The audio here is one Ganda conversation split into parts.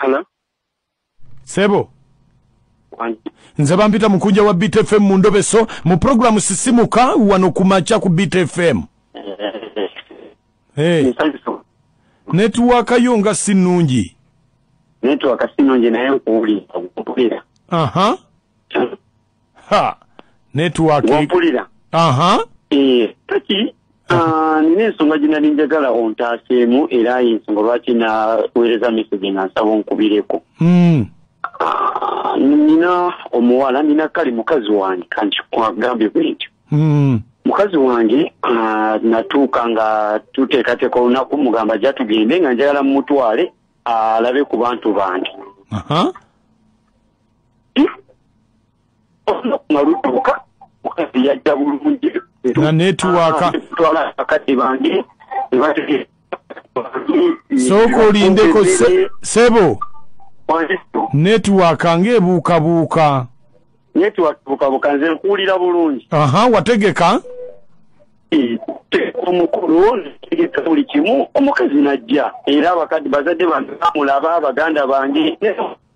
Hello? sebo Wangi. nze bampita mukunja wa beat fm mu ndobeso mu programu sisimuka wano ku makya ku beat fm hey. Nsanyufu. netiwaaka yo nga si nnungi Network si nnungi naye nkuwulira. Nkuwulira. aha Ha! Network. Wampulira? Aha. Eh, kati ah, nina ensonga gye nali njagala ontaaseemu era y'ensonga lwaki naweereza message nga nsaba onkubireko. Mm. Ah, nina omuwala nina kale mukazi wange kanti kwagambye bwentyo. Mm. mukazi wange ah, natuuka nga tuteekateeka olunaku mugamba ja tugende nga njagala mumutwale alabe ku bantu bange Aha. olunaku nga lutuuka mukazi yajja bulungi nga netiwaaka twala bakadde bange ne bategeera sooka olindeko se- sebo netiwaaka ng'ebuukabuuka netiwakibukabuka nze nkuwulira bulungi aha wategeka teeka omukulu netegeka buli kimu omukazi najja era abakadde bazadde bange bamulaba baganda bange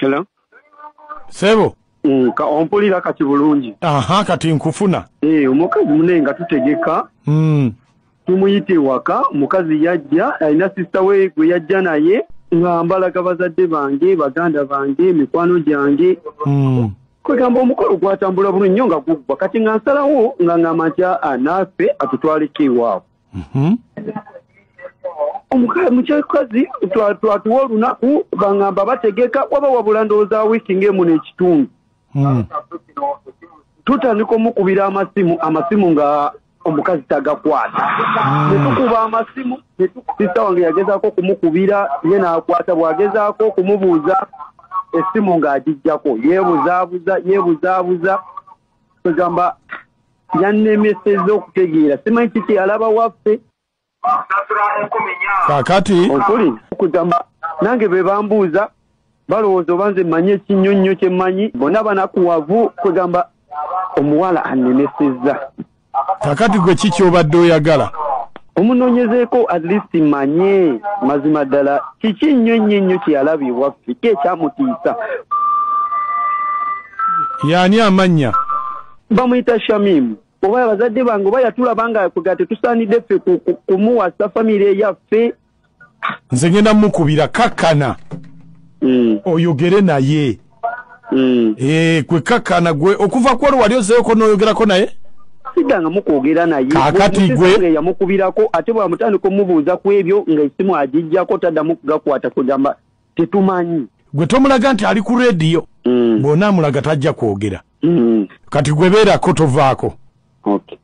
Hello. Sebo. Mm, ka ompulira kati bulungi. Aha kati nkufuna. Eh, omukazi mune nga tutegeka. Mm. tumuyita ewaka omukazi yajja alina sisita we gwe yajja naye nga mbalaga bazadde bange baganda bange mikwano gyange hmm. kwegamba omukolo gwatambula bulu nnyo nga guggwa kati nga nsalawo nga ngamba nti aa naafe atutwaleko ewaabwe mhm. omukyakazi twatuwa olunaku bangamba bategeka waba wabula ndowooza wiiki ngaemu n'ekitundu hmm. tutandika omukubira amasimu amasimu nga omukazi tagakwata hmm. netukuba amasimu sista wange yagezaako okumukubira ye n'akwata bw'agezaako okumubuuza essimu ng'agijjako yeebuzaabuza yeebuzaabuza kwegamba yannemeseza okutegeera simanyi kiki alaba waffe kakati okuli kugamba nange bebambuuza balowooza oba nze mmanyi ekinnyo nnyo kye mmanyi bona banakuwavu kwegamba omuwala anemesezza kakati gwe ki kyobadde oyagala omunoonyezeeko at least manye mazima ddala kiki nnyo nnyo ennyo kyeyalaba ewaffe ki ekyamutiisa yaani amannya bamuyita shamimu oba abazadde bange oba yatulaba nga kwegala tetusaanidde ffe kumuwasa famire yaffe nze ngenda mukubira kakkana hmm. oyogere naye hmm. eh, kwe kakkana gwe okuva kwolwo wali ozeyoko noyogerako naye sidanga mukwogera naye kakati gwe yamukubirako ate bwamutandika omubuuza ku ebyo nga esimu agijjako taddamu kugakwata kwegamba tetumanyi gwe tomulaga nti ali ku rediyo mm. bwona amulaga tajja kwogera mm. kati gwe beerako tovaako okay.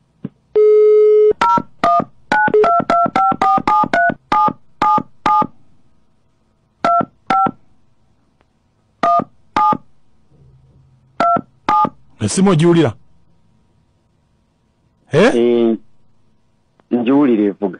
esimu ogiwulira eh? eh, ngiwulira evuga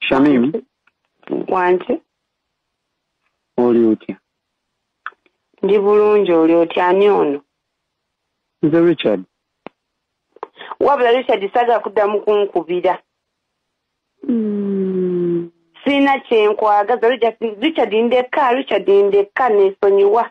Shamim wange oli otya ndi bulungi oli otya ani ono nze richard wabula richard saga kuddamu kunkubira hmm. sirina kyenkwagaza richard ndekka richard ndekka nesonyiwa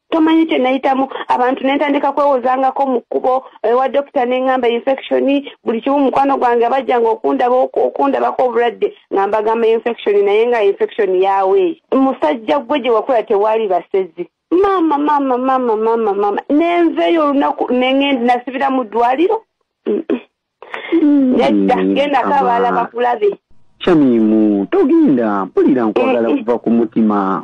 tomanyi kye nayitamu abantu ne ntandika kwewozangako mu kkubo ewa dokita ne ŋŋamba infection buli kimu mukwano gwange abajjanga okundaba okundabako obulwadde nga mbagamba infection naye nga infection yawe musajja gwe gye wakula tewaali basezi maama maama maama maama maama nenveeyo olunaku nengende nasibira mu ddwaliro nedda mm, genda ko abaala bakulabe shamimu togenda mpulira nkwagala eh, eh. kuva ku mutima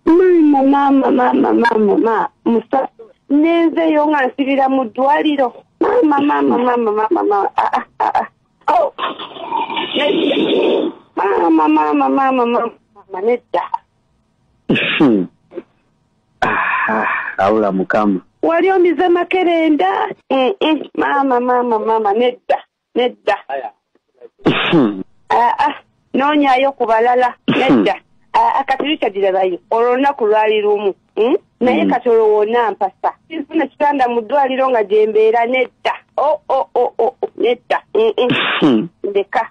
maama maama maama maama ma musa nenzeyo nga nsibira mu ddwaliro maama maama maama maama ma ah, ah, ah, ah. Oh. maama maama maama maama nedda awula mukama wali omize makerenda maama maama maama nedda nedda aa noonyayo ku balala nedda aa kati likyagirabayo olwo lunaku lwali lumu hmm? naye mm. kati olwo wona mpasa nfuna kitanda mu ddwaliro nga gyembeera nedda o oh, o oh, o oh, o nedda ndeka